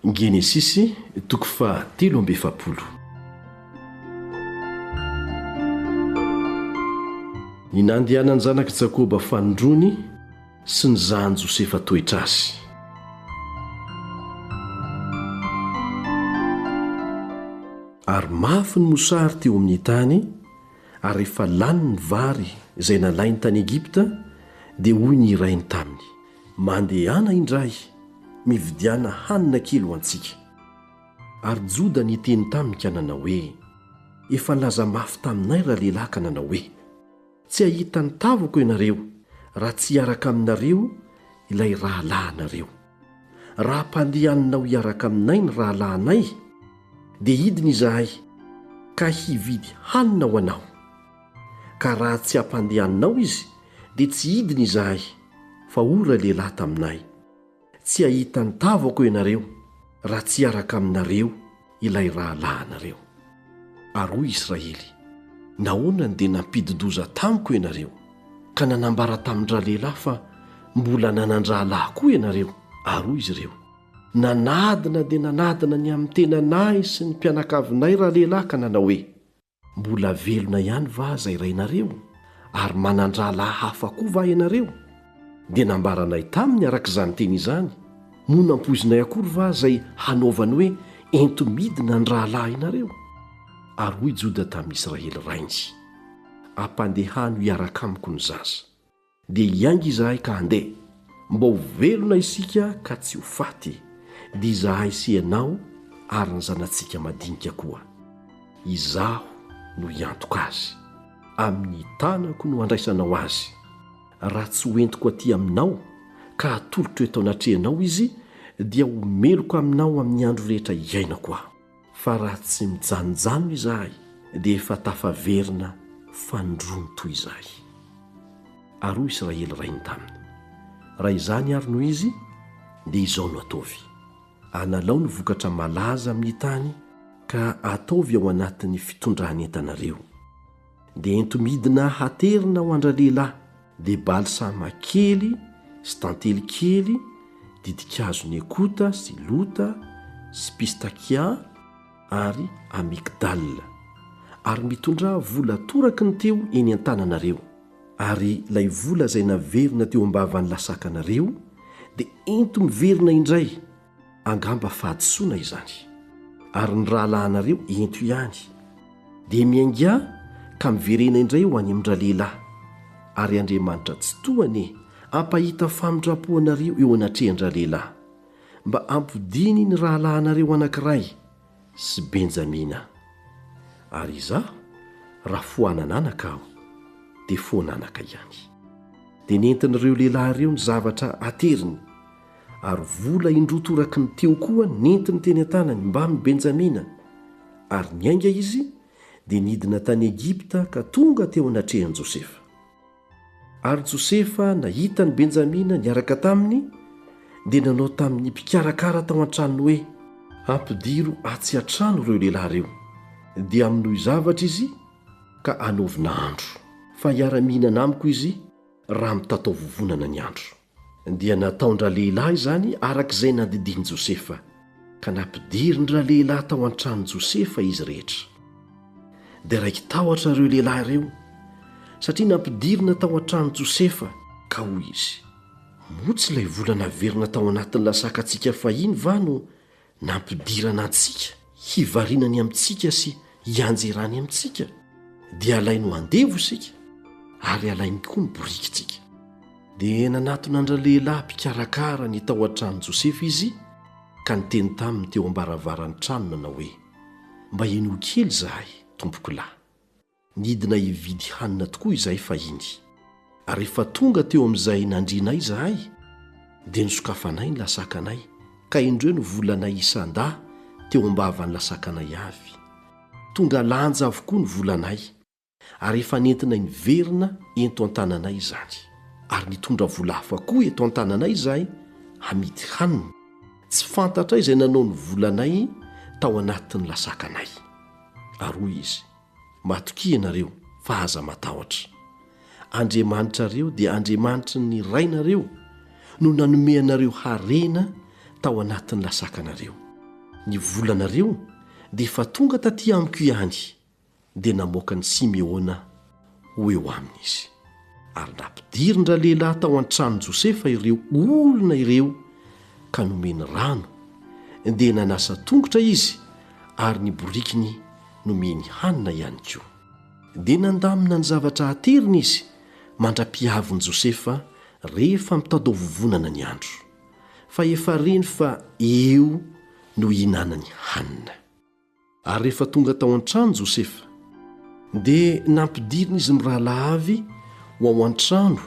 Genesisy toko faha telo amby efapolo. Ny nandehanan'ny zanak'i Jakoba fanindroany sy ny zan'i Josefa toetra azy. Ary mafy ny mosary teo amin'ny tany, ary rehefa lany ny vary izay nalainy tany Egypta, dia hoy ny irainy taminy, Mandehana indray mividiana hanina kely ho antsika. Ary Joda niteny taminy ka nanao hoe, Efa nilaza mafy taminay ralehilahy ka nanao hoe, Tsy hahita ny tavako ianareo raha tsy hiaraka aminareo ilay rahalahinareo. Raha hampandehaninao hiaraka aminay ny rahalahinay, dia hidina izahay ka hividy hanina ho anao. Ka raha tsy hampandeha anao izy dia tsy hidiny izahay fa hoy ray lehilahy taminay, Tsy hahita ny tavako ianareo raha tsy hiaraka aminareo ilay rahalahinareo. Ary hoy Israely, Nahoana no dia nampidi-doza tamiko ianareo ka nanambara tamin-dralehilahy fa mbola nanan-drahalahy koa ianareo? Ary hoy izy ireo, Nanadina dia nanadina ny amin'ny tenanay sy ny mpianakavinay ralehilahy ka nanao hoe, Mbola velona ihany va aza irainareo, ary manan-drahalahy hafa koa va ianareo? Dia nambaranay taminy araka izany teny izany, moa nampoizinay akory va izay hanaovany hoe ento-midina ny rahalahinareo? Ary hoy Joda tamin'ny Israely rainy, Ampandehano hiaraka amiko ny zaza. Dia hiainga izahay ka handeha, mba ho velona isika ka tsy ho faty, dia izahay sy ianao ary ny zanatsika madinika koa. Izaho no hiantoka azy. Amin'ny tanako no handraisanao azy. Raha tsy ho entiko aty aminao ka hatolotro eto anatrehanao izy, dia ho meloka aminao amin'ny andro rehetra iainako aho. fa raha tsy mijanonjanona izahay dia efa tafaverina fanindroany toy izay. Ary hoy Israely rainy taminy, Raha izany àry no izy, dia izao no ataovy, Alalao ny vokatra malaza amin'ny tany ka ataovy ao anatin'ny fitondran'entanareo. dia ento-midina haterina ho an-dralehilahy, dia balsama kely sy tantely kely, ditin-kazon'i ekota sy lota sy pistakia ary amygdale. Ary mitondrà vola toraky ny teo eny an-tananareo. Ary ilay vola izay naverina teo am-bavan'ny lasakanareo dia ento-miverina indray, angamba fahadisoana izany ary ny rahalahinareo ento ihany dia miainga ka miverena indray ho any amin-dralehilahy ary Andriamanitra Tsitoha anie hampahita famindram-po anareo eo anatrehan-dralehilahy mba ampodiany ny rahalahinareo anankiray sy Benjamina. Ary izaho, raha foanana anaka aho, dia foan'anaka ihany. Dia nentin'ireo lehilahy ireo ny zavatra ateriny, ary vola indroa toraky ny teo koa nentiny teny an-tanany mbamin'i Benjamina, ary niainga izy, dia nidina tany Egypta ka tonga teo anatrehan'i Josefa. Ary Josefa, nahita an'i Benjamina niaraka taminy, dia nanao tamin'ny mpikarakara tao an-tranony hoe, Ampidiro atsy an-trano ireo lehilahy ireo, dia amonoy zavatra izy ka anaovina andro, fa hiara-mihinana amiko izy raha mitataovovonana ny andro. Dia nataon-dralehilahy izany araka izay nandidian'i Josefa, ka nampidirin-dralehilahy tao an-tranon'i Josefa izy rehetra. Dia raiki-tahotra ireo lehilahy ireo, satria nampidirina tao an-tranon'i Josefa, ka hoy izy, Moa tsy ilay vola naverina tao anatin'ny lasakantsika fahiny va no nampidirana antsika hivarinany amintsika sy hianjerany amintsika, dia alainy ho andevo isika ary alainy koa ny borikintsika. Dia nanatona an-dralehilahy mpikarakara ny tao an-tranon'i Josefa izy ka niteny taminy teo am-baravaran'ny trano nanao hoe, Mba henoy kely izahay, tompokolahy. Nidina hividy hanina tokoa izahay fahiny, ary rehefa tonga teo amin'izay nandrianay izahay, dia nosokafanay ny lasakanay, ka indreo no volanay isan-dà teo am-bavan'ny lasakanay avy. Tonga lanja avokoa ny volanay, ary efa nentinay niverina ento an-tananay izany. Ary nitondra vola hafa koa eto an-tananay izahay hamidy hanina. Tsy fantatray izay nanao ny volanay tao anatin'ny lasakanay. Ary hoy izy. Matokia ianareo, fa aza matahotra. Andriamanitrareo dia Andriamanitry ny rainareo no nanome anareo harena tao anatin'ny lasakanareo. Ny volanareo dia efa tonga taty amiko ihany, dia namoaka an'i Simeona. ho eo aminy izy. Ary nampidirin-dralehilahy tao an-tranon'i Josefa ireo olona ireo ka nomeny rano, dia nanasa tongotra izy ary ny borikiny nomeny hanina ihany koa. Dia nandamina ny zavatra hateriny izy mandra-pihavin'i Josefa rehefa mitadaovovonana ny andro, fa efa reny fa eo no hihinanany hanina. Ary rehefa tonga tao an-trano Josefa. Dia nampidirina izy mirahalahy avy ho ao an-trano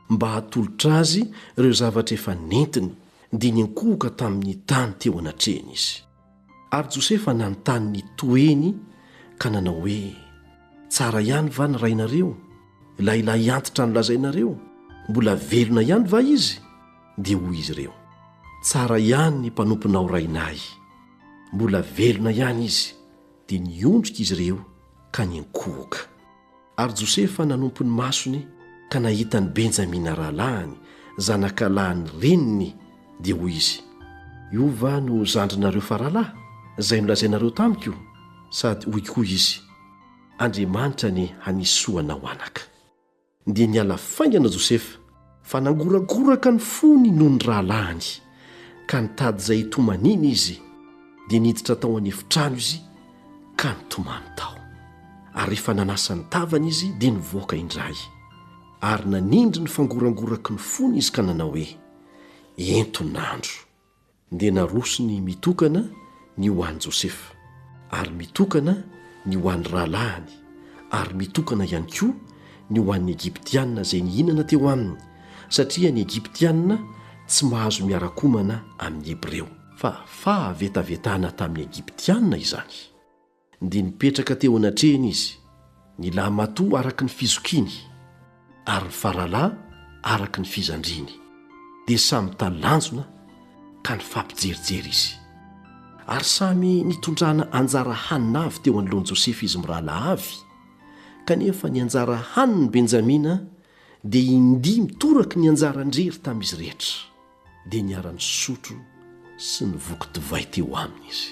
mba hatolotra azy ireo zavatra efa nentiny, dia niankohoka tamin'ny tany teo anatrehany izy. Ary Josefa nanontany ny toeny ka nanao hoe, Tsara ihany va ny rainareo? Ilay lahy antitra nolazainareo, mbola velona ihany va izy? Dia hoy izy ireo, Tsara ihany ny mpanomponao rainay. Mbola velona ihany izy, dia niondrika izy ireo ka niankohoka. Ary Josefa nanompo ny masony ka nahita an'i Benjamina rahalahiny, zanakalahin'ny reniny, dia hoy izy, Io va no zandrinareo faralahy, izay nolazainareo tamiko? Sady hoy koa izy, Andriamanitra anie hanisy soa anao, anaka. Dia niala faingana Josefa, fa nangoragoraka ny fony noho ny rahalahiny, ka nitady izay hitomaniana izy, dia niditra tao an'efitrano izy ka nitomany tao. Ary rehefa nanasa ny tavany izy, dia nivoaka indray. Ary nanindry ny fangorangoraky ny fony izy ka nanao hoe, Ento ny nandro. Dia narosony mitokana ny ho an'i Josefa, ary mitokana ny ho an'ny rahalahiny, ary mitokana ihany koa ny ho an'ny Egyptiana izay nihinana teo aminy, satria ny Egyptiana tsy mahazo miara-komana amin'ny Hebreo. Fa fahavetavetana tamin'ny Egyptiana izany. Dia nipetraka teo anatrehany izy, ny lahimatoa araka ny fizokiany, ary ny faralahy araka ny fizandriany. Dia samy nitalanjona ka nifampijerijery izy. Ary samy nitondrana anjara hanina avy teo anoloan'i Josefa izy mirahalahy avy, kanefa ny anjara hanin'i Benjamina dia indimy toraky ny anjaran-drery tamin'izy rehetra. dia niara-nisotro sy nivoky divay teo aminy izy.